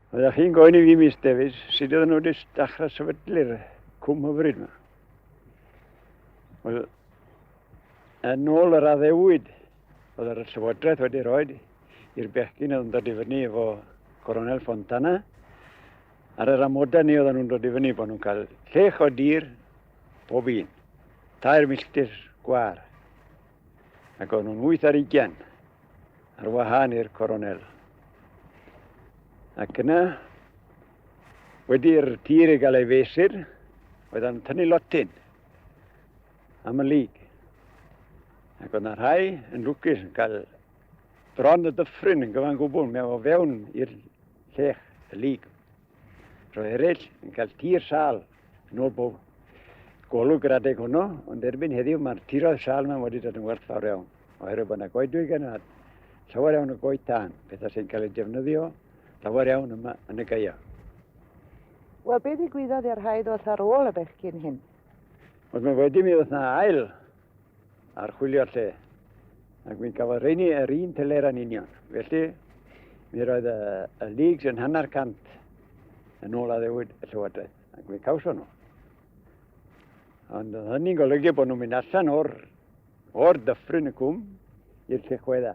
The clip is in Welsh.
Oeddech chi'n gofyn i fi, Miss Davies, sut oedden nhw wedi dechrau sefydlu'r cwm hyfryd yma? Wel, yn ôl yr addewid oedd yr llywodraeth wedi rhoi i'r bechgyn oedd yn dod i fyny efo Coronel Fontana, ar yr amodau ni oedden nhw'n dod i fyny bod nhw'n cael llech o dir pob un, tair milltir gwar, ac o'n nhw'n wyth ar ugian ar wahân i'r coronel. Ac yna, wedi'r tir i gael ei fesur, oedd am tynnu lotyn am y lig. Ac oedd yna rhai yn lwcus yn cael dron y dyffryn yn gyfan gwbl mewn o fewn i'r llech y lig. Roedd eraill yn cael tir sal yn ôl bob golwg yr adeg hwnnw, ond erbyn heddiw mae'r tiroedd sal yma wedi dod yn werth fawr iawn, oherwydd bod yna goedwig yna, llawer iawn o goed tân, pethau sy'n cael eu defnyddio llawer iawn yma yn y gaia. Wel, beth i gwyddoedd i'r rhaid oll ar ôl y bechgyn hyn? Ond mae wedi mi oedd yna ail archwilio'r lle. Ac mi gafodd rheini yr un teler yn union. Felly, mi roedd y, y leagues yn hanner cant yn ôl addewid y llywodraeth. Ac mi cawson nhw. Ond oedd hynny'n golygu bod nhw'n mynd allan o'r, or dyffryn y cwm i'r lle chwedda.